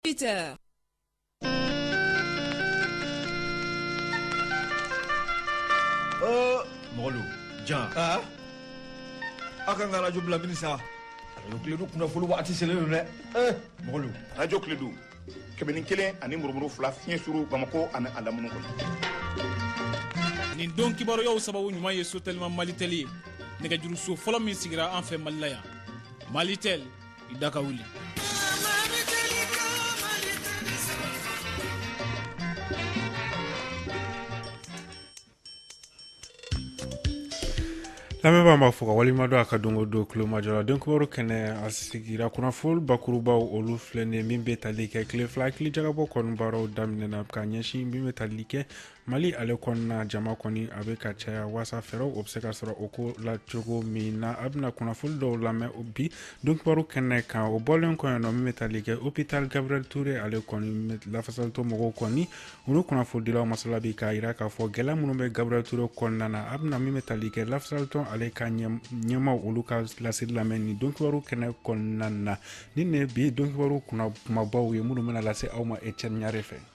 dix-huit heures. Mɔgɔlu jan aw ka n ka radio bila mini sa radio Kledu kunnafoni waati selen don dɛ mɔgɔlu radio Kledu kɛmɛ ni kelen ani murumuru fila fiɲɛ suru bamakɔ ani a lamini kɔnɔ nin don kibaruyaw sababu ɲuman ye sotɛlima malitɛli ye nɛgɛjuruso fɔlɔ min sigira an fɛ mali la yan malitɛli i da ka wuli lamɛnbaw n b'aw fo k'aw waleɲumandɔn aw ka don o don tulomajɔ la donkibaru kɛnɛ a sigira kunnafoni bakurubaw olu filɛ nin min bɛ tali kɛ tile fila hakili jagabɔ kɔni baaraw daminɛna ka ɲɛsin min bɛ tali kɛ mali ale kɔnɔna jama kɔni a bɛ ka caya waasa fɛɛrɛw o bɛ se ka sɔrɔ o ko la cogo min na aw bɛna kunnafoni dɔw lamɛn bi donkibaru kɛnɛ kan o bɔlen kɔ yen nɔ min bɛ tali kɛ hopital gabriel ture ale kɔni lafasalitɔn mɔgɔw kɔni olu kunnafonidilaw masala bi k'a jira k'a fɔ gɛlɛya minnu bɛ gabriel ture kɔnɔna na aw bɛna min bɛ tali kɛ lafasalitɔn ale ka ɲɛmaaw olu ka laseli lamɛn nin donkibaru kɛnɛ kɔnɔna na nin ye bi donkibaru kumabaw ye minnu bɛna lase aw ma ecɛni ɲare fɛ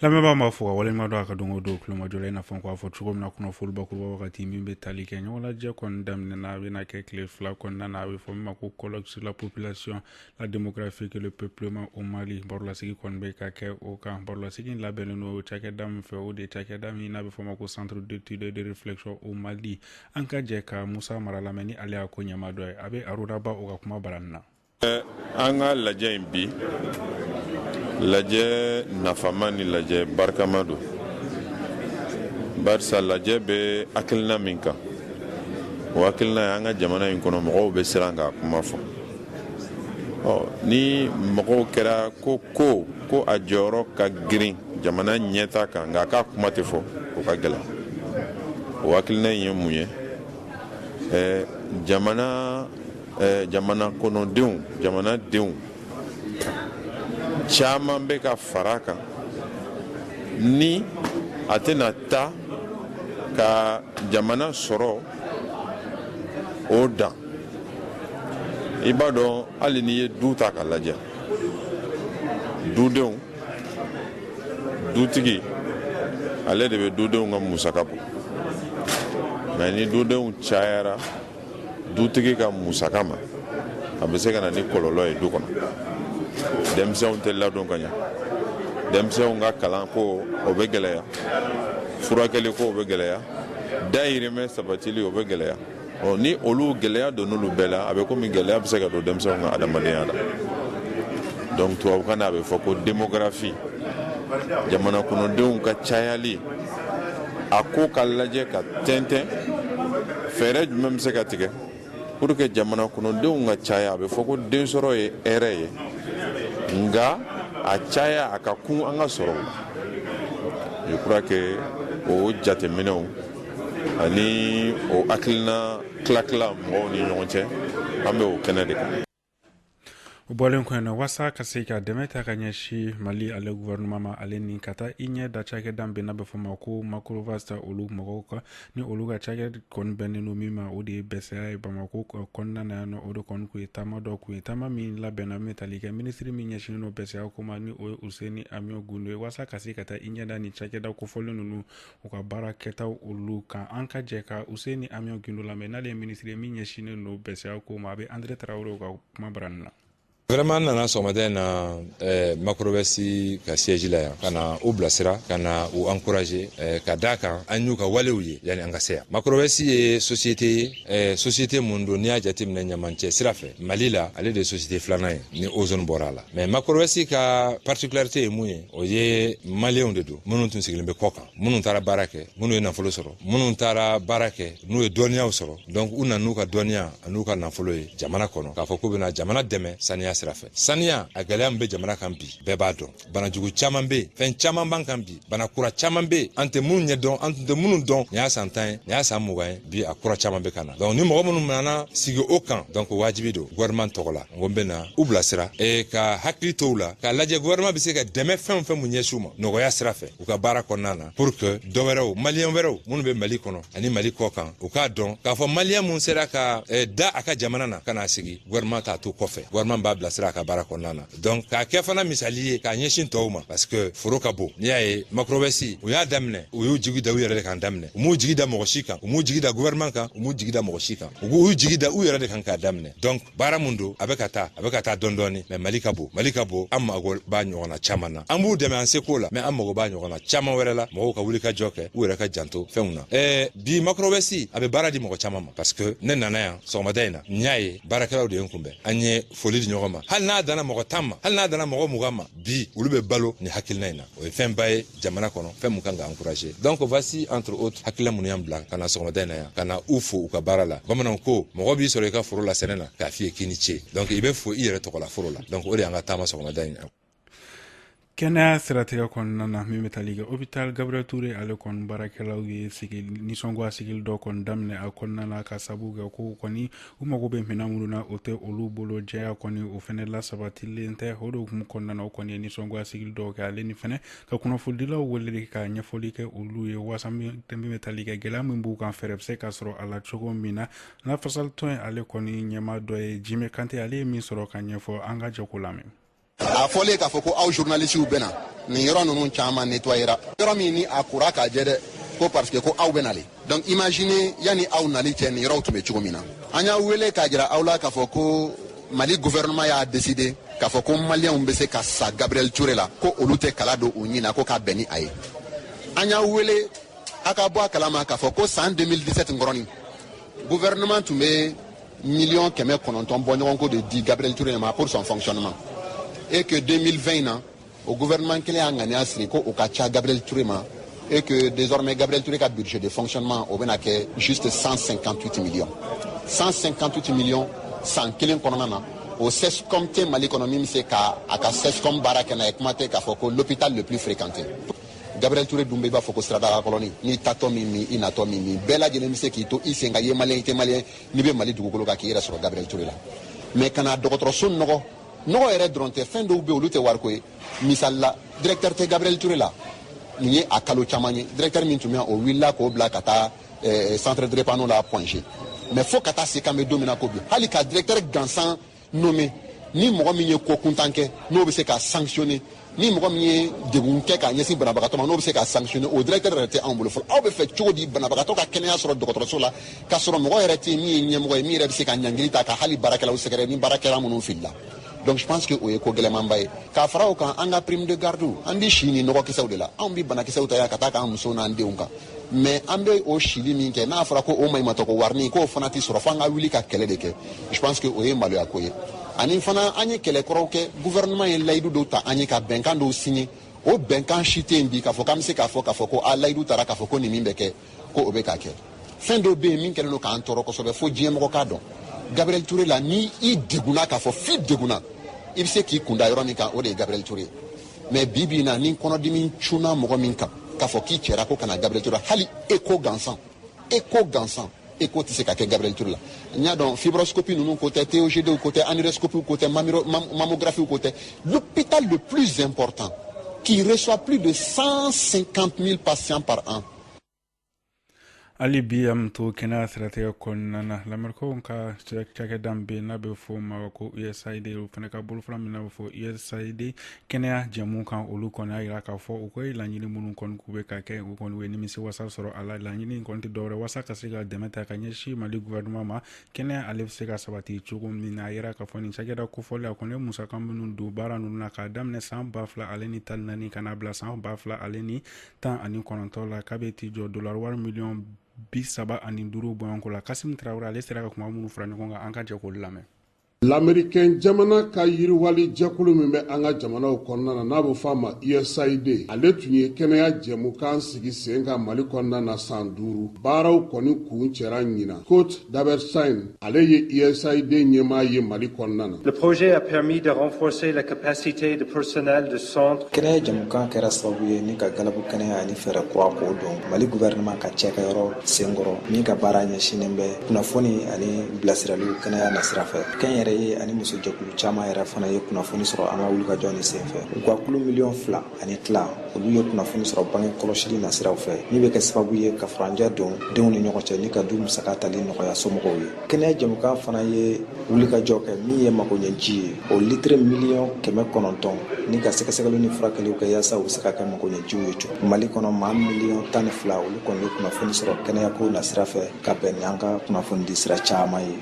lamɛnbaw n b'aw fo k'aw waleɲumandɔn aw ka don o don tulomajɔ la i n'a fɔ an k'a fɔ cogo min na kunnafoni bakuruba wagati min bɛ tali kɛ ɲɔgɔnlajɛ kɔni daminɛna a bɛna kɛ tile fila kɔnɔna na a bɛ fɔ min ma ko colloque sur la population la démographique le peuplement au Mali barolasigi kɔni bɛ ka kɛ o kan barolasigi labɛnnen don cakɛda min fɛ o de cakɛda min n'a bɛ fɔ ma ko centre d'étude de réflexion au Mali an ka jɛ ka Musa Mara lamɛn ni ale y'a ko ɲɛmaa dɔ ye a bɛ Aruna Ba o ka kumabarani na an ka lajɛ in bi lajɛ nafama ni lajɛ barikama don barisa lajɛ bɛ hakilina min kan o hakilina ye an ka jamana in kɔnɔ mɔgɔw bɛ siran k'a kuma fɔ ni mɔgɔw kɛra ko ko ko a jɔyɔrɔ ka girin jamana ɲɛtaa kan nka k'a kuma tɛ fɔ o ka gɛlɛn o hakilina in ye mun ye jamana jamana kɔnɔdenw jamanadenw caman bɛ ka fara kan ni a tɛna taa ka jamana sɔrɔ o dan i b'a dɔn hali n'i ye du ta ka lajɛ dudenw dutigi ale de bɛ dudenw ka musaka bɔ nka ni dudenw cayara dutigi ka musaka ma a bɛ se ka na ni kɔlɔlɔ ye du kɔnɔ denmisɛnw tɛ ladon ka ɲɛ denmisɛnw ka kalan ko o bɛ gɛlɛya furakɛli ko o bɛ gɛlɛya dayirimɛ sabatili o bɛ gɛlɛya ɔ ni olu gɛlɛya don n'olu bɛɛ la a bɛ komi gɛlɛya bɛ se ka don denmisɛnw ka adamadenya la donc tubabukan na a bɛ fɔ ko demografi jamana kɔnɔdenw ka cayali a ko ka lajɛ ka tɛntɛn fɛɛrɛ jumɛn bɛ se ka tigɛ pour que jamana kɔnɔdenw ka caya a bɛ fɔ ko densɔrɔ ye hɛrɛ ye nga a caya a ka kun an ka sɔrɔ je crois que o jateminɛw ani o hakilina tilatila mɔgɔw ni ɲɔgɔn cɛ an bɛ o kɛnɛ de kan o bɔlen kɔ yen wasa ka se ka dɛmɛ ta ka ɲɛsin mali ale gouvernement ma ale ni ka taa i ɲɛ da cakɛda min n'a bɛ fɔ ma ko macrowaste olu mɔgɔw kan ni olu ka cakɛ kɔni bɛnnen don min ma o de ye bɛsɛya ye bamako kɔnɔna na yan nɔ o de kɔni tun ye taama dɔ kun ye taama min labɛnna min tali kɛ minisiri min ɲɛsinnen don bɛsɛya ko ma ni o ye useni amiɔn gindo ye wasa ka se ka taa i ɲɛ da ni cakɛda kofɔlen ninnu u ka baara kɛta olu kan an ka jɛ ka useni amiɔn gindo lamɛn n'ale ye minisiri min ɲɛsinnen don bɛsɛya ko ma a bɛ andre traore ka kumabarani na vraiment n nana sɔgɔmada in na eh, macrowaste ka siège la yan ka na u bilasira ka na u encourager eh, ka d'a kan an y'u ka walew ye yanni an ka se yan macrowaste ye société ye eh, société mun don n'i y'a jateminɛ ɲamancɛ sira fɛ mali la ale de ye société filanan ye ni ozone bɔra a la mais macrowaste ka particularité ye mun ye o ye maliyɛnw de don minnu tun sigilen bɛ kɔ kan minnu taara baara kɛ minnu ye nafolo sɔrɔ minnu taara baara kɛ n'u ye dɔnniyaw sɔrɔ donc u nana n'u ka dɔnniya an'u ka nafolo ye jamana kɔnɔ k'a fɔ k'u bɛna jamana dɛmɛ saniya sira fɛ saniya a gɛlɛya min bɛ jamana kan bi bɛɛ b'a dɔn bana jugu caman bɛ fɛn caman b'an kan bi bana kura caman bɛ an tɛ minnu ɲɛ dɔn an tun tɛ minnu dɔn nin y'a san tan ye nin y'a san mugan ye bi a kura caman bɛ ka na donc ni mɔgɔ minnu nana sigi o kan donc waajibi don gouvernement tɔgɔ la n ko n bɛ na u bilasira e ka hakili to u la k'a lajɛ gouvernement bɛ se ka dɛmɛ fɛn o fɛn mun ɲɛsin u ma nɔgɔya sira fɛ u ka baara kɔnɔna na pour que dɔ wɛrɛw maliyɛn wɛrɛw minnu bɛ mali kɔnɔ ani mali kɔ kan u k'a dɔn k'a fɔ maliyɛn mun sera ka e, da a ka jamana na ka n'a sigi gouvernement t'a to kɔfɛ gouvernement b'a bilasira a ka baara kɔnɔna na donc k'a kɛ fana misali ye k'a ɲɛsin tɔw ma parce que foro ka bon n'i y'a ye macrowaste u y'a daminɛ u y'u jigi da u yɛrɛ de kan daminɛ u m'u jigi da mɔgɔ si kan u m'u jigi da gouvernement kan u m'u jigi da mɔgɔ si kan u k'u jigi da u yɛrɛ de kan k'a daminɛ donc baara mun don a bɛ ka taa a bɛ ka taa dɔɔni dɔɔni mais mali ka bon mali ka bon an mago b'a ɲɔgɔnna caman na an b'u dɛmɛ an seko la mais an mago b'a ɲɔgɔnna caman wɛrɛ la mɔgɔw ka wuli ka jɔ kɛ u yɛrɛ ka janto fɛnw na ɛɛ bi macrowaste a bɛ baara di mɔgɔ caman ma parce que ne nana yan sɔgɔmada in na n y'a ye baarakɛlaw de ye n kunbɛn an ye foli di ɲɔgɔn ma hali n'a danna mɔgɔ tan ma hali n'a danna mɔgɔ mugan ma bi olu bɛ balo ni hakilina in na o ye fɛnba ye jamana kɔnɔ fɛn min kan ka encourager donc voici entre autres hakilila minnu y'an bila ka na sɔgɔmada in na yan ka na u fo u ka baara la bamananw ko mɔgɔ b'i sɔrɔ i ka foro la sɛnɛ na k'a f'i ye k'i ni ce donc i bɛ fo i yɛrɛ tɔgɔla foro la donc o de y'an ka taama sɔgɔmada in na kɛnɛya siratigɛ kɔnɔna na min bɛ tali kɛ hôpital gabriel ture ale kɔni baarakɛlaw ye sigi nisɔngoya sigili dɔ kɔni daminɛ a kɔnɔna na ka sabu kɛ ko kɔni u mago bɛ minɛn minnu na o tɛ olu bolo jɛya kɔni o fɛnɛ lasabatilen tɛ o de hukumu kɔnɔna na o kɔni ye nisɔngoya sigili dɔw kɛ ale ni fɛnɛ ka kunnafonidilaw wele ka ɲɛfɔli kɛ olu ye waasa min bɛ tali kɛ gɛlɛya min b'u kan fɛɛrɛ bɛ se ka sɔrɔ a la cogo min na lafasalitɔn ye ale kɔni ɲɛmaa dɔ ye jime kante ale ye min sɔrɔ ka ɲɛfɔ an ka jɛ k'o lamɛn a fɔlen k'a fɔ ko aw journalistew bɛ na nin yɔrɔ ninnu caman nettoyera yɔrɔ min ni a kora k'a jɛ dɛ ko parce que ko aw bɛ na le donc imagine yani aw nali cɛ nin yɔrɔw tun bɛ cogo min na an y'a wele k'a jira aw la k'a fɔ ko mali gouvernement y'a décidé k'a fɔ ko maliyɛnw bɛ se ka sa gabriel ture la ko olu tɛ kala don u ɲin na ko k'a bɛn ni a ye an y'a wele a ka bɔ a kalama k'a fɔ ko san 2017 nkɔrɔnin gouvernement tun bɛ miliyɔn kɛmɛ kɔnɔntɔn bɔɲɔgɔnko de di gabriel ture ma pour son fonctionnement et que 2020 na o gouvernement kelen y'a ŋaniya siri ko o ka ca gabriel ture ma et que désormais gabriel ture ka budget de fonctionnement o bɛna kɛ juste 158 millions 158 millions san kelen kɔnɔna na o cscom tɛ mali kɔnɔ min bɛ se ka a ka cscom baara kɛ n'a ye kuma tɛ k'a fɔ ko l'hôpital le plus fréquenté gabriel ture dun bɛ i b'a fɔ ko siradala kɔlɔnnin n'i taatɔ m'i min i natɔ b'i min bɛɛ lajɛlen bɛ se k'i to i sen kan i ye maliyɛn i tɛ maliyɛn n'i bɛ mali dugukolo kan k'i yɛrɛ sɔrɔ gabriel ture la mais ka na dɔgɔtɔrɔso nɔgɔ nɔgɔ yɛrɛ dɔrɔn tɛ fɛn dɔw bɛ olu tɛ wariko ye misali la directeur tɛ gabriel ture la nin ye a kalo caman ye directeur min tun bɛ o wulila k'o bila ka taa eh, centre drépano la point g mais fo ka taa se k'an bɛ don min na ko bi hali ka directeur gansan nommé ni mɔgɔ min ye ko kuntan kɛ n'o bɛ se ka sanctionner ni mɔgɔ min ye degun kɛ k'a ɲɛsin banabagatɔ ma n'o bɛ se ka sanctionner o directeur yɛrɛ tɛ anw bolo fɔlɔ aw b'a fɛ cogo di banabagatɔ ka kɛnɛya sɔrɔ dɔgɔtɔrɔso la k'a sɔrɔ mɔgɔ yɛrɛ tɛ min ye ɲɛmɔgɔ ye min yɛrɛ bɛ se ka ɲangili ta ka hali baarakɛlaw sɛgɛrɛ ni baarakɛla minnu filila donc je pense que o ye ko gɛlɛnmanba ye k'a fara o kan an ka prime de garde an bɛ si ni nɔgɔkisɛw de la anw bɛ banakisɛw ta yan ka taa k'an musow n'an denw kan mais an bɛ o sili min kɛ n'a fɔra ko o maɲumatɔ ko warinin k'o fana tɛ sɔrɔ fo an ka wuli ka kɛlɛ de kɛ je pense que o ye maloya ko ye ani fana an ye kɛlɛ kɔrɔw kɛ gouvernement ye layidu dɔw ta an ye ka bɛnkan dɔw signé o bɛnkan si tɛ yen bi k'a fɔ k'an bɛ se k'a fɔ k'a fɔ ko a layidu tara k'a fɔ ko nin min bɛ kɛ ko o bɛ ka kɛ fɛn dɔw bɛ yen min kɛlen don k'an tɔɔrɔ kosɛbɛ fo diɲɛ mɔgɔ k'a dɔn gabriel ture la ni i degunna k'a fɔ n'i degunna i bɛ se k'i kunda yɔrɔ min kan o de ye gabriel ture ye mais bi bi in na ni kɔnɔdimi cunna mɔgɔ min kan k'a fɔ k'i cɛra ko kana gabriel touré la hali écho gansan écho gansan écho tɛ se ka kɛ gabriel touré la n y'a dɔn fibroscopie ninnu ko tɛ togdw ko tɛ anuroscopiw ko tɛ mammographiew ko tɛ l'hôpital le plus important qui reçoit plus de 150 000 patients par an hali bi an bɛ to kɛnɛya siratigɛ kɔnɔna na lamɛrikaw ka cakɛda bɛ yen n'a bɛ fɔ o ma ko usaid o fana ka bolofara min bɛ fɔ usaid kɛnɛya jɛmukan olu kɔni y'a jira k'a fɔ u ko ye laɲini minnu kɔni k'u bɛ ka kɛ u kɔni ye nimisi wasa sɔrɔ a la laɲini kɔni tɛ dɔwɛrɛ wasa ka se ka dɛmɛ ta ka ɲɛsin mali gouvernement ma kɛnɛya ale bɛ se ka sabati cogo min na a jira k'a fɔ nin cakɛda kofɔlen a kɔni ye musaka minnu don baara ninnu na k'a daminɛ san ba fila ale ni tan ni naani ka n'a bila san ba fila ale ni tan ani kɔnɔntɔn la k'a bɛ t'i jɔ dola wari miliyɔn bi saba ani duuru bɔɲɔgɔnko la kasim tarawele ale sera ka kuma minnu fara ɲɔgɔn kan an ka jɛ k'olu lamɛn l'américain jamana ka yiriwali jɛkulu min bɛ an ka jamanaw kɔnɔna na n'a bɛ fɔ a ma usaid ale tun ye kɛnɛya jɛmukan sigi sen kan mali kɔnɔna na san duuru baaraw kɔni kuncɛra ɲinan scott dobberstein Ale ye USAID ɲɛmaa ye Mali kɔnɔna na. Le projet a permis de renforcer la capacité de personnel de centre. Kɛnɛya jɛmukan kɛra sababu ye ni ka galabu kɛnɛya ani fɛɛrɛ kura k'o don Mali gouvernement ka cakɛyɔrɔ senkɔrɔ min ka baara ɲɛsinnen bɛ kunnafoni ani bilasiraliw kɛnɛya nasira fɛ. Kɛnyɛrɛye ani musojɛkulu caman yɛrɛ fana ye kunnafoni sɔrɔ an ka wulikajɔ nin senfɛ. U ka kulu miliyɔn fila ani tila olu ye kunnafoni sɔrɔ bange kɔlɔsili nasiraw fɛ min bɛ kɛ sababu ye ka furancɛ don denw ni ɲɔgɔn cɛ ni ka du musaka tali nɔgɔya somɔgɔw ye kɛnɛya jɛmukan fana ye wulikajɔ kɛ min ye makoɲɛji ye o litiri miliyɔn kɛmɛ kɔnɔntɔn ni ka sɛgɛsɛgɛliw ni furakɛliw kɛ yaasa u bɛ se ka kɛ makoɲɛjiw ye cogo mali kɔnɔ maa miliyɔn tan ni fila olu kɔni ye kunnafoni sɔrɔ kɛnɛyako nasira fɛ ka bɛn ni an ka kunnafoni di sira caman ye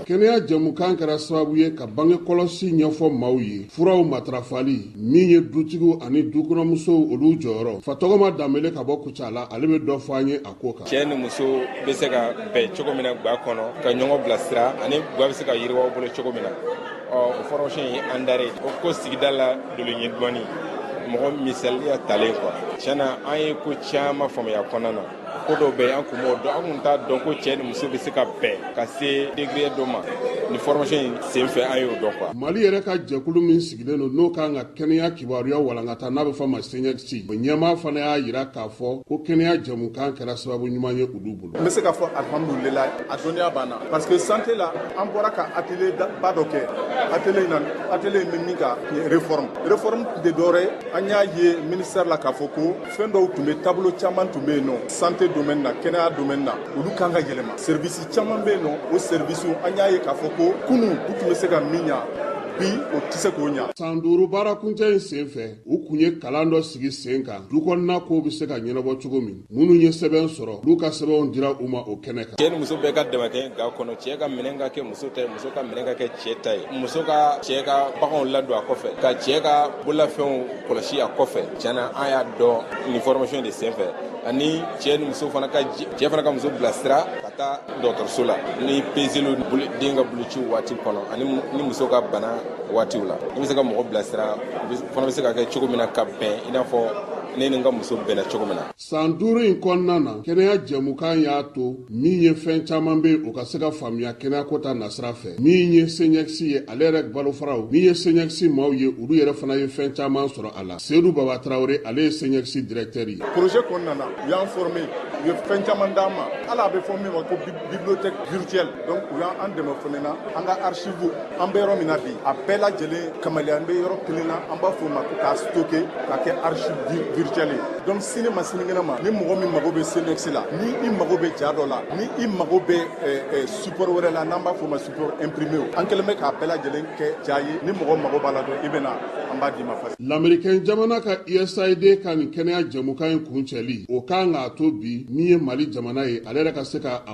kɛnɛya jɛmukan kɛra sababu ye ka bange kɔlɔsi ɲɛfɔ maaw ye furaw matarafali min ye dutigiw ani dukɔnɔmusow olu jɔyɔrɔ fatɔgɔma danbele ka bɔ kucala ale bɛ dɔ fɔ an ye a ko kan cɛ ni muso bɛ se ka bɛn cogo min na gwa kɔnɔ ka ɲɔgɔn bilasira ani gwa bɛ se ka yiriwa bolo cogo min na o formation ye an dare o ko sigida la doloɲɛ dɔɔni mɔgɔ misaliya talen quoi tiɲɛ na an ye ko caman faamuya kɔnɔna na ko dɔw bɛ yen an kun m'o dɔn an kun t'a dɔn ko cɛ ni muso bɛ se ka bɛn ka se degré dɔ ma ni formation in sen fɛ an y'o dɔn quoi mali yɛrɛ ka jɛkulu min sigilen don n'o k'an ka kɛnɛya kibaruya walankata n'a bɛ fɔ ma cniecs o ɲɛmaa fana y'a jira k'a fɔ ko kɛnɛya jɛmukan kɛra sababu ɲuman ye olu bolo N bɛ se k'a fɔ alihamdulila a dɔnniya b'an na parce que santé la an bɔra ka atelier ba dɔ kɛ atelier in na atelier in bɛ min kan réforme réforme tun tɛ dɔwɛrɛ ye an y'a ye ministère la k'a fɔ ko fɛn dɔw tun bɛ tableau caman tun bɛ yen nɔ santé domaine na kɛnɛya domaine na olu kan ka yɛlɛma service caman bɛ yen nɔ o service an y'a ye k'a fɔ ko kunu u tun bɛ se ka min ɲa bi o tɛ se k'o ɲa. san duuru baarakuncɛ in senfɛ u kun ye kalan dɔ sigi sen kan du kɔnɔna kow bɛ se ka ɲɛnabɔ cogo min minnu ye sɛbɛn sɔrɔ olu ka sɛbɛnw dira u ma o kɛnɛ kan cɛ ni muso bɛɛ ka dɛmɛ kɛ ga kɔnɔ cɛ ka minɛn ka kɛ muso ta ye muso ka minɛn ka kɛ cɛ ta ye muso ka cɛ ka baganw ladon a kɔfɛ ka cɛ ka bololafɛnw kɔlɔsi a kɔfɛ tiɲɛ na an y'a dɔn nin formation de senfɛ ani cɛ ni muso fana ka cɛ fana ka muso bilasira ka taa dɔgɔtɔrɔso la ni peseliw den ka bolociw waati kɔnɔ ani ni muso ka bana waatiw la i bɛ se ka mɔgɔ bilasira fana bɛ se ka kɛ cogo min na ka bɛn i n'a fɔ ne ni n ka muso bɛnna cogo min na. San duuru in kɔnɔna na, kɛnɛya jɛmukan y'a to min ye fɛn caman bɛ o ka se ka faamuya kɛnɛyako ta nasira fɛ. Min ye CNIECS ye, ale yɛrɛ bolofaraw, min ye CNIECS maaw ye, olu yɛrɛ fana ye fɛn caman sɔrɔ a la. Seydou Baba Traoré, ale ye CNIECS directeur ye. Projet kɔnɔna na, u y'an former, u ye fɛn caman d'an ma. Hali a bɛ fɔ min ma ko bibliothèque virtuelle. donc u y'an dɛmɛ fan in na an ka archive an bɛ yɔrɔ min na bi a bɛɛ lajɛlen kamaleya an bɛ yɔrɔ kelen na an b'a fɔ ma ko k'a stocké k'a kɛ archive virtuelle ye donc sini ma sinikɛnɛ ma ni mɔgɔ min mago bɛ CNIECS la ni i mago bɛ ja dɔ la ni i mago bɛ eh, eh, support wɛrɛ la n'an b'a fɔ ma support imprimé an kɛlen bɛ k'a bɛɛ lajɛlen kɛ ja ye ni mɔgɔ mago b'a la dɔrɔn i bɛ na an b'a d'i ma facile américain jamana ka USAID ka nin kɛnɛya jɛmukan in kuncɛli o kan k'a to bi min ye mali jamana ye ale yɛrɛ ka se ka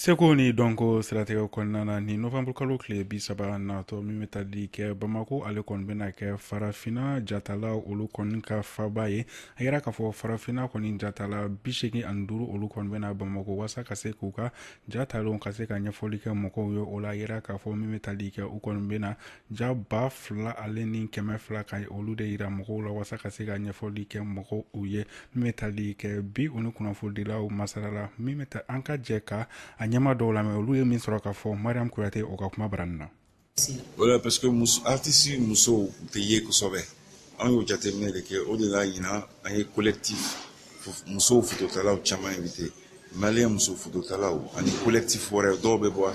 seko ni dɔnko siratigɛ kɔnɔna na ni novanburukalo tile bi saba natɔ min bɛ tali kɛ bamako ale kɔni bɛna kɛ farafina jatala olu kɔni ka faba ye a yira k'a fɔ farafina kɔni jatala bi segin ani duuru olu kɔni bɛ na bamako wasa ka se k'u ka jatalenw ka se ka ɲɛfɔli kɛ mɔgɔw ye o la a yira k'a fɔ min bɛ tali kɛ u kɔni bɛna ja ba fila ale ni kɛmɛ fila ka olu de yira mɔgɔw la walasa ka se ka ɲɛfɔli kɛ mɔgɔw u ye min bɛ tali kɛ bi u ni kunnafonidilaw masala la min bɛ taa an ka jɛ k'a ɲɛmaa dɔw lamɛn olu ye min sɔrɔ k'a fɔ mariam kuyate o ka kumabarani na voilà parce que artiste musow tɛ ye kosɛbɛ an y'o jateminɛ de kɛ o de la ɲinan an ye collectif musow fototalaw caman invité malien muso fototalaw ani collectif wɛrɛ dɔw bɛ bɔ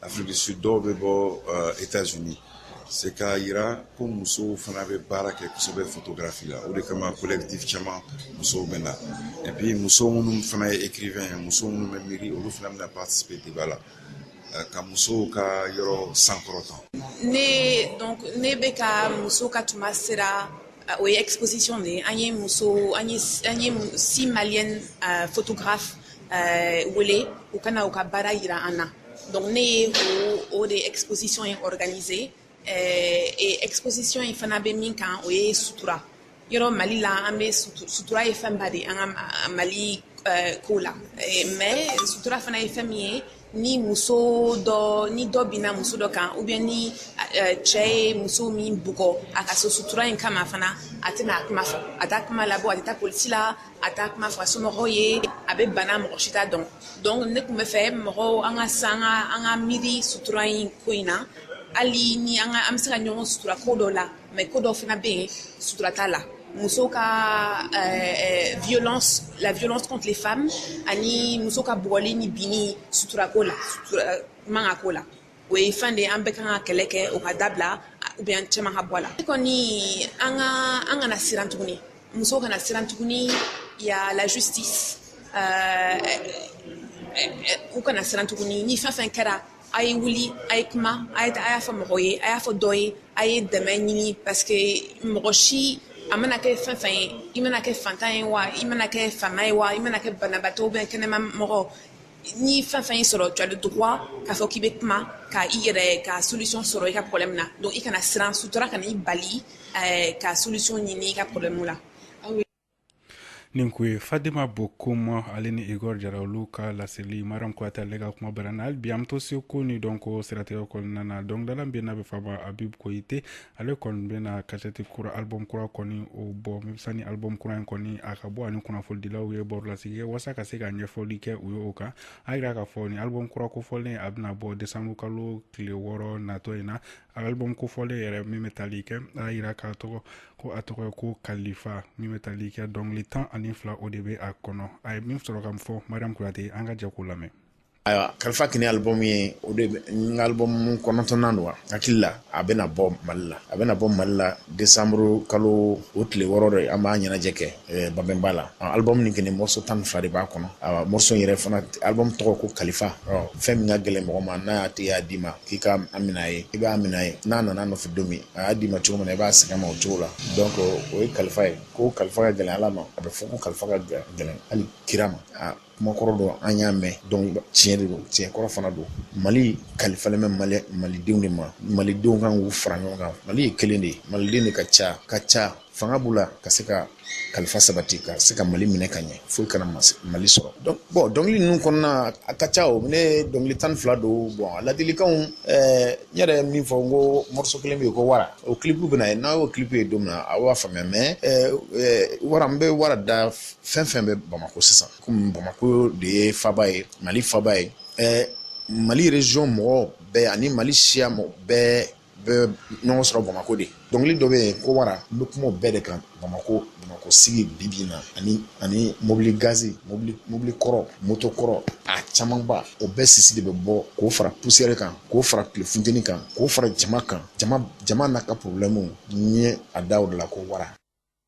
Afrique du Sud dɔw bɛ bɔ euh, États-Unis c'est k'a yira ko musow fana bɛ baara kɛ kosɛbɛ photographie la o de kama collectif caman musow bɛ na et puis muso minnu fana ye écrivain ye muso minnu bɛ miiri olu fana bɛna participer débat la euh, ka musow ka yɔrɔ sankɔrɔta. ne donc ne bɛ ka muso ka tuma sera euh, o ye exposition de ye an ye muso an ye an ye six maliennes photographes wele u ka na u ka baara yira an na. donc ne ye o o de exposition in organiser ɛɛ et exposition in fana bɛ min kan o ye sutura yɔrɔ mali la an bɛ sutura ye fɛnba de an ka mali ɛɛ ko la mais sutura fana ye fɛn min ye ni muso dɔ ni dɔ binna muso dɔ kan ou bien ni cɛ ye muso min bugɔ a ka so sutura in kama fana a tɛna a kuma fɔ a t'a kuma labɔ a tɛ taa polisi la a t'a kuma f'a somɔgɔw ye a bɛ bana mɔgɔ si t'a dɔn donc ne tun bɛ fɛ mɔgɔw an ka se an ka miiri sutura in ko in na hali ni an ka an bɛ se ka ɲɔgɔn sutura ko dɔ la mais ko dɔ fana bɛ yen sutura t'a la muso ka euh, euh, violence la violence contre les femmes ani muso ka bugɔli ni binni suturako la sutura man kan ko la o ye fɛn de ye an bɛɛ kan ka kɛlɛ kɛ o ka dabila ou bien caman ka bɔ a la kɔni an ka an kana siran tuguni musow kana siran tuguni y a la justice euh, u kana siran tuguni ni fɛn fɛn kɛra a ye wuli a ye kuma a ye a y'a fɔ mɔgɔ ye a y'a fɔ dɔ ye a ye dɛmɛ ɲini parce que mɔgɔ si a mana kɛ fɛn fɛn ye i mana kɛ fantan ye wa i mana kɛ faama ye wa i mana kɛ banabaatɔ ou bien kɛnɛma mɔgɔ ni fɛn fɛn y'i sɔrɔ tu as le droit k'a fɔ k'i bɛ kuma ka i yɛrɛ ka solution sɔrɔ i ka problème na donc i kana siran sutura kana i bali eh, ka solution ɲini i ka problème la nin kun ye fadima bokum ale ni igor jara olu ka laseli mariam kuyate ale ka kuma bara na hali bi an bɛ to seko ni dɔnko siratigɛ kɔnɔna na dɔnkilidala min n'a bɛ f'a ma habib koyite ale kɔni bɛna kasɛti kura album kura kɔni o bɔ sani album kura in kɔni a ka bɔ a ni kunnafonidilaw ye barolasigi kɛ walasa ka se ka ɲɛfɔli kɛ u ye o kan a yira k'a fɔ nin album kura kofɔlen a bɛna bɔ desanburu kalo tile wɔɔrɔ natɔ in na album kofɔlen yɛrɛ min bɛ tali kɛ a yira k'a tɔgɔ ko a tɔgɔ ye ko kalifa min bɛ tali kɛ dɔnkili tan ani fila o de bɛ a kɔnɔ a ye min sɔrɔ ka fɔ mariam kuyate an ka jɛ k'o lamɛn ayiwa kalifa kini album ye o de n ka album kɔnɔntɔnnan don wa hakili la a bɛna bɔ mali la a bɛna bɔ mali la desanburu kalo o tile wɔɔrɔ de an b'a ɲɛnajɛ kɛ eh, babɛnba la album nin kini morceau tan ni fila de b'a kɔnɔ awa morceau yɛrɛ fana album tɔgɔ ko kalifa fɛn min ka gɛlɛn mɔgɔ ma n'a y'a tigi y'a d'i ma k'i ka a minɛ a ye i b'a minɛ a ye n'a nana a nɔfɛ don min a y'a d'i ma cogo min na i b'a segin a ma o cogo la donc o ye kalifa ye ko kalifa ka gɛlɛn ala ma a bɛ fɔ ko kalifa ka gɛlɛn hali kira ma kumakɔrɔ don an y'a mɛn tiɲɛ de don tiɲɛkɔrɔ fana don mali kalifalen bɛ mali malidenw de ma malidenw kan k'u fara ɲɔgɔn kan mali ye kelen de ye maliden de ka ca ka ca fanga b'u la ka se ka kalifa sabati ka se ka mali minɛ ka ɲɛ foyi kana mali sɔrɔ bɔn dɔnkili ninnu kɔnɔna a ka ca o ne dɔnkili tan fila don bɔn ladilikan n yɛrɛ ye min fɔ n ko moriso kelen bɛ yen ko wara o clip bɛna na n'a y'o clip ye don min na a b'a faamuya mɛ wara n bɛ wara da fɛn fɛn bɛ bamakɔ sisan kɔmi bamakɔ de ye faba ye mali faba ye ɛɛ mali rezyɔn mɔgɔ bɛɛ ani mali siya mɔgɔ bɛɛ bɛ ɲɔgɔn sɔrɔ bamakɔ de dɔnkili dɔ bɛ yen ko wara n bɛ kuma bɛɛ de kan bamakɔ bamakɔ sigi bibi na ani ani mobili gazi mobili kɔrɔ moto kɔrɔ a camanba o bɛɛ sisi de bɛ bɔ k'o fara pusiyɛri kan k'o fara tile funteni kan k'o fara jama kan jama n'a ka porobulɛmu n ye a da o de la ko wara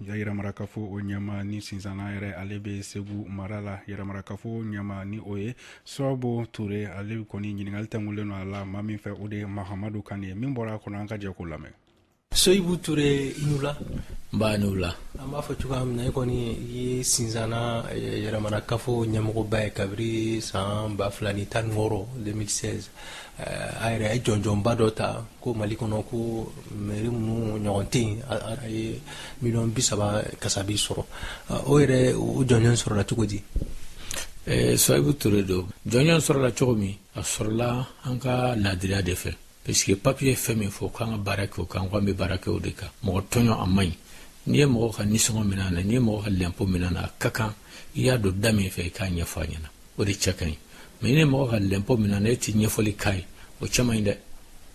Yɛrɛmarakafo o ɲɛmaa ni sinzana yɛrɛ ale bɛ segu mara la yɛrɛmarakafo ɲɛmaa nin o ye soyibu ture ale kɔni ɲininkali tɛngulen don a la maa min fɛ o de ye mahamadu kane ye min bɔra a kɔnɔ an ka jɛ k'o lamɛn soyibu ture i ni wula nba i ni wula an b'a fɔ cogoya min na e kɔni ye sinzana eh, yɛrɛmarakafo ɲɛmɔgɔba ye kabiri san ba fila ni tan ni wɔɔrɔ 2016 eh, a yɛrɛ ye jɔnjɔnba dɔ ta ko mali kɔnɔ ko mɛri minnu ɲɔgɔn tɛ a ye miliyɔn bi saba kasabi sɔrɔ o yɛrɛ o jɔnjɔn sɔrɔla cogo di soyibu ture donc jɔnjɔn sɔrɔla cogo min a sɔrɔla an ka laadiriya de fɛ pariseke papiye ye fɛn min fɔ k'an ka baara kɛ o kan k'an bɛ baara kɛ o de kan mɔgɔ tɔɲɔ a man ɲi n'i ye mɔgɔ ka nisɔngɔ min'a na n'i ye mɔgɔ ka lɛnpo min'a na a ka kan i y'a don da min fɛ i k'a ɲɛfɔ a ɲɛna o de cɛ ka ɲi mɛ n'i ye mɔgɔ ka lɛnpo min'a na e tɛ ɲɛfɔli k'a ye o cɛ man ɲi dɛ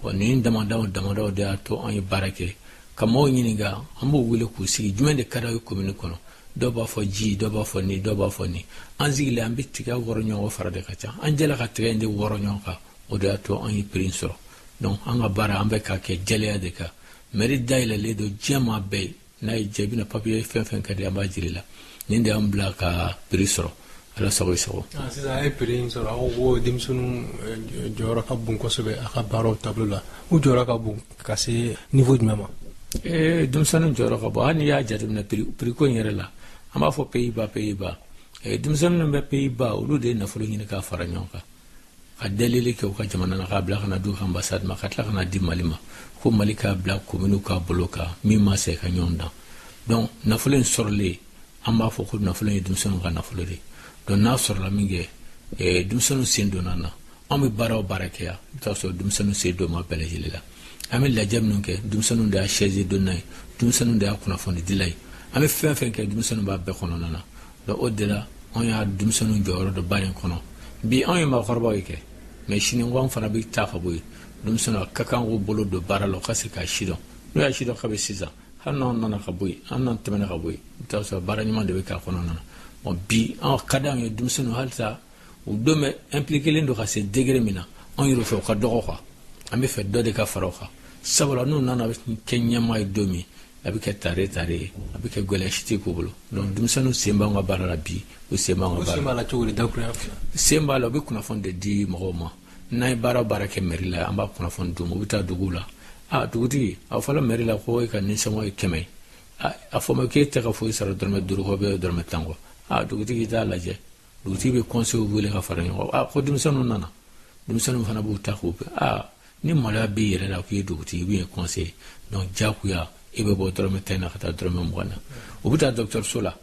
wa nin damadaw damadaw de y'a to an ye baara kɛ ka maaw ɲininka an b'u wele k'u sigi jumɛn de ka d'aw ye komini kɔnɔ dɔw b'a fɔ ji dɔw b'a fɔ nin dɔw b'a fɔ nin an sigilen an bɛ tiga wɔrɔ ɲɔgɔn fara de ka ca an jɛla ka tiga in de wɔrɔ ɲɔgɔn kan o de y'a to an ye piri sɔrɔ donc an ka baara an bɛ k'a kɛ jɛlenya de kan mɛri dayɛlɛlen don diɲɛ maa bɛɛ ye n'a ye jaabi na papiye fɛn fɛn ka di an b'a jir'i la nin de y'an bila ka piri sɔrɔ ala sago i sago ah, sisan a ye piri in sɔrɔ aw ko denmisɛnninw eh, jɔyɔrɔ ka bon kosɛbɛ a ka baaraw taabolo la u jɔyɔrɔ ka bon ka se nivo jumɛn ma eh, denmisɛnninw jɔyɔrɔ ka bon hali n'i y'a jateminɛ piriko in yɛrɛ la an b'a fɔ peyiba peyiba eh, denmisɛnninw bɛ peyiba olu de ye nafolo ɲini k'a fara ɲɔgɔn kan ka delili kɛ u ka jamana na k'a bila ka na d'u ka anbasadi ma ka tila ka na di mali ma ko mali k'a bila komini ka bolo kan min ma se ka ɲɔgɔn dan donc nafolo in sɔrɔlen an b'a fɔ ko nafolo ye denmisɛnninw ka nafolo de don n'a sɔrɔla min kɛ eh, denmisɛnninw sen donn'a na an bɛ baara o baara kɛ yan i bɛ t'a sɔrɔ denmisɛnninw sen don ma bɛɛ lajɛlen la an bɛ lajɛ minnu kɛ denmisɛnninw de y'a sɛzi donna ye denmisɛnninw de y'a kunnafoni dila ye an bɛ fɛn fɛn kɛ denmisɛnninw b'a bɛɛ kɔnɔna na Donc o de la anw ye denmisɛnninw jɔyɔrɔ dɔn baara in kɔnɔ bi anw ye maakɔrɔbaw ye kɛ mais sini ko an fana bɛ taa ka bɔ yen denmisɛnninw ka kan k'u bolo don baara la ka se k'a sidɔn n'u y'a sidɔn kabi sisan hali n'an nana ka bɔ yen n'an tɛmɛna ka bɔ yen i bɛ t'a sɔrɔ baara ɲuman de bɛ k'a kɔnɔna na bon bi a ka di anw ye denmisɛnninw halisa u don bɛ impliquélen don ka se degré min na anw yɛrɛ fɛ u ka dɔgɔ quoi an b'a fɛ dɔ de ka fara o kan sabula n'u nana kɛ ɲɛmaa ye don min a bɛ kɛ tare tare ye a bɛ kɛ gɛlɛya si tɛ k'u bolo donc denmisɛnninw sen b'an ka baara la bi u sen b'an ka baara la cogo di dakuruya sen b'a la u bɛ kunnafoni de di mɔgɔw ma n'an ye baara baara kɛ mɛri la an b'a kunnafoni d'u ma u bɛ taa duguw la a dugutigi a fɔla mɛri la ko e ka nisɔngɔ ye kɛmɛ ye a fɔ ma k'e tɛ ka foyi sara dɔrɔmɛ duuru kɔ bɛ dɔrɔmɛ tan kɔ a dugutigi t'a lajɛ dugutigi bɛ conseil wele ka fara ɲɔgɔn kan a ko denmisɛnninw nana denmisɛnninw fana b'u ta k'u kɛ aa ni maloya b'i yɛrɛ la k'i ye dugutigi i bɛ ye conseil donc jagoya i bɛ bɔ dɔrɔmɛ tan na ka taa dɔrɔmɛ mugan na u bɛ taa dɔgɔtɔrɔso la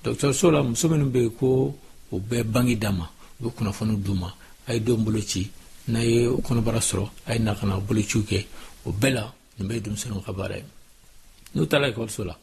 dɔgɔtɔrɔso la muso minnu bɛ yen ko u bɛ bange d'a ma u bɛ kunnafoni d'u ma a ye denw bolo ci n'a ye kɔnɔbara sɔrɔ a ye na ka na bolociw kɛ o bɛɛ la nin bɛɛ ye denmisɛnninw ka baara ye n'u taara ekɔliso la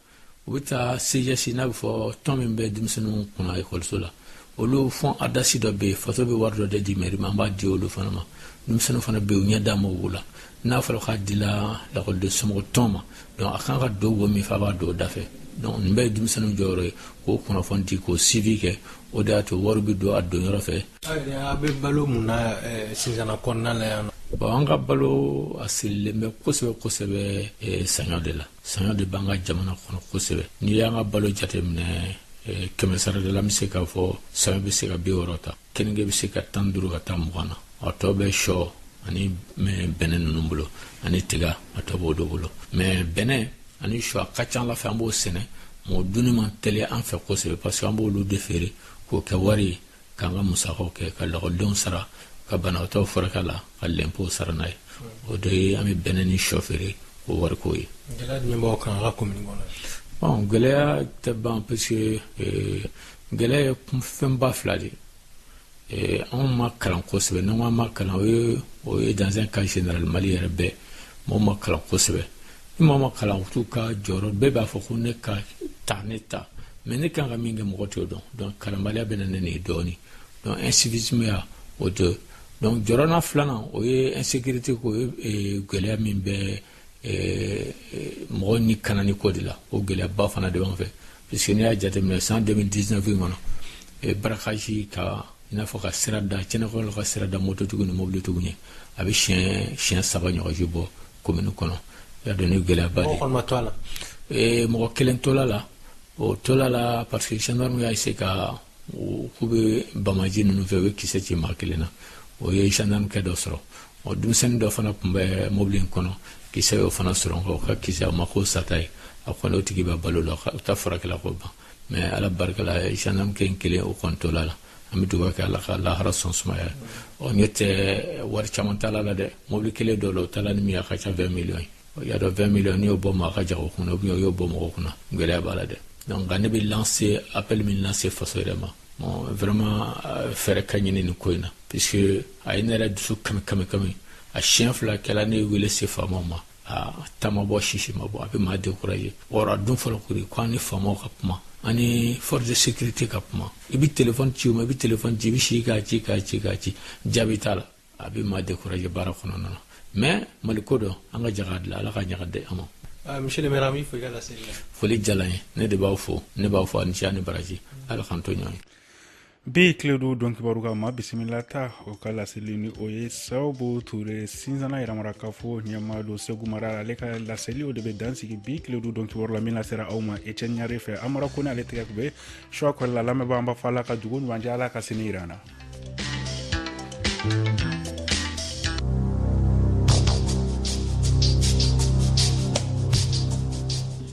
u bɛ taa CGS n'a bɛ fɔ tɔn min bɛ denmisɛnninw kunna ekɔliso la olu fonds ADARS dɔ bɛ yen faso bɛ wari dɔ de di mɛri ma an b'a di olu fana ma denmisɛnninw fana bɛ yen u ɲɛ d'a ma olu la n'a fɔra k'a dila lakɔliden somɔgɔ tɔn ma donc a kan ka don wo min fɛ a b'a don o da fɛ donc nin bɛɛ ye denmisɛnninw jɔyɔrɔ ye k'o kunnafoni di k'o suivi kɛ o de y'a to wari bɛ don a don yɔrɔ fɛ a bɛ balo mun na eh, sinsana kɔnɔna la yan nɔ bon an ka balo a sirilen bɛ kosɛbɛ kosɛbɛ eh, saɲɔ de la saɲɔ de b'an ka jamana kɔnɔ kosɛbɛ n'i y'an ka balo jate minɛ eh, kɛmɛsarada la an bɛ se k'a fɔ saɲɔ bɛ se ka bi wɔɔrɔ ta keninge bɛ se ka tan duuru ka taa mugan na a tɔ bɛ shɔ ani bɛnɛ ninnu bolo ani tiga a tɔ b'o de bolo mais bɛnɛ ani shɔ a ka ca a la fɛ an b'o sɛnɛ mɔgɔ dunni man teli an fɛ kosɛbɛ parce que an b'olu de feere k'o kɛ wari ye k'an ka musakaw kɛ ka lakɔlidenw sara ka banabaatɔw furakɛ a la ka lɛnpow sara n'a ye o de ye an bɛ bɛnɛ ni shɔ feere k'o wari k'o ye gɛlɛya jumɛn b'aw kan aw ka komini kɔnɔ bon gɛlɛya tɛ ban parce que eh, gɛlɛya ye fɛnba fila de ye eh, anw ma kalan kosɛbɛ n'an ko an ma kalan o ye o ye dans un cas général Mali yɛrɛ bɛɛ mɔgɔw ma kalan kosɛbɛ ni mɔgɔ ma kalan u t'u ka jɔyɔrɔ bɛɛ b'a fɔ ko ne ka ta ne ta mais ne kan ka min kɛ mɔgɔ t'o dɔn donc kalanbaliya bɛ na ni nin dɔɔni donc incivisme ya o de donc jɔrɔna filanan o ye insécurité ko ye eh, gɛlɛya min bɛ eh, mɔgɔ ni kanani ko de la o gɛlɛyaba fana de b'an fɛ puisque n'i y'a jateminɛ san 2019 in kɔnɔ eh, braquage ka i n'a fɔ ka sira da cɛnɛkɔrɔ ka sira da mototigiw ni mobilitigiw ɲɛ a bɛ siɲɛ siɲɛ saba ɲɔgɔnji bɔ komini kɔnɔ y'a dɔn ni gɛlɛyaba de ye mɔgɔ kelen tol'a la o tol'a la parce que gendarme y'a essayer ka k'u bɛ bamaji ninnu fɛ u ye kisɛ ci maa kelen na o ye gendarme kɛ dɔ sɔrɔ ɔ denmisɛnnin dɔ fana tun bɛ mobili in kɔnɔ kisɛ y'o fana sɔrɔ nka o ka kisɛ a ma k'o sata ye a kɔni o tigi bɛ balo la o ta furakɛla k'o ban mais ala barika la gendarme kɛ in kelen o kɔni tol'a la an bɛ duba kɛ ala k'a lahara so sumaya ɔ n'o tɛ wari caman taal'a la dɛ mobili kelen dɔ la u taala ni min a ka ca 20 miliyɔn ye y'a dɔn 20 miliyɔn n'i y'o bɔ maa ka jago kunna ou bien o y'o bɔ mɔgɔ kunna gɛlɛya b'a la dɛ donc nka ne bɛ lancer appel min lancer faso yɛrɛ ma bon vraiment euh, fɛɛrɛ ka ɲini nin ko in na puisque a ye ne yɛrɛ dusu kami kami kami a siɲɛ fila kɛla ne wele se faamaw ma aa ta ma bɔ sisi ma bɔ a bɛ maa découragé or a tun fɔla kori ko an ni faamaw ka kuma an ni force de sécurité ka kuma i bɛ téléphone ci u ma i bɛ téléphone ci i bɛ si k'a ci k'a ci k'a ci jaabi t'a la a bɛ maa découragé baara kɔnɔna na mais mali ko don an ka jɛ k'a dilan ala k'a ɲa k'a di an ma ah, monsieur le maire an b'i fo i ka laseli la foli diyala n ye ne de b'aw fo ne b'aw fo a ni ce a ni baraji ala k'an to ɲɔgɔn ye Bi tile don donkibaru ka maa bisimilata o ka laseli ni o ye sababu ture sinsana yɛrɛmara kafo ɲɛmaa don segu mara ale ka laseli o de bɛ dan sigi bi tile don donkibaru la min sera aw ma etienne yare fɛ amara kɔnɛ ale tɛgɛ tun bɛ suwa kɔrɔ la lamɛnbaa an b'a fɔ ala ka dugu ɲuman jɛ ala ka sini jira an na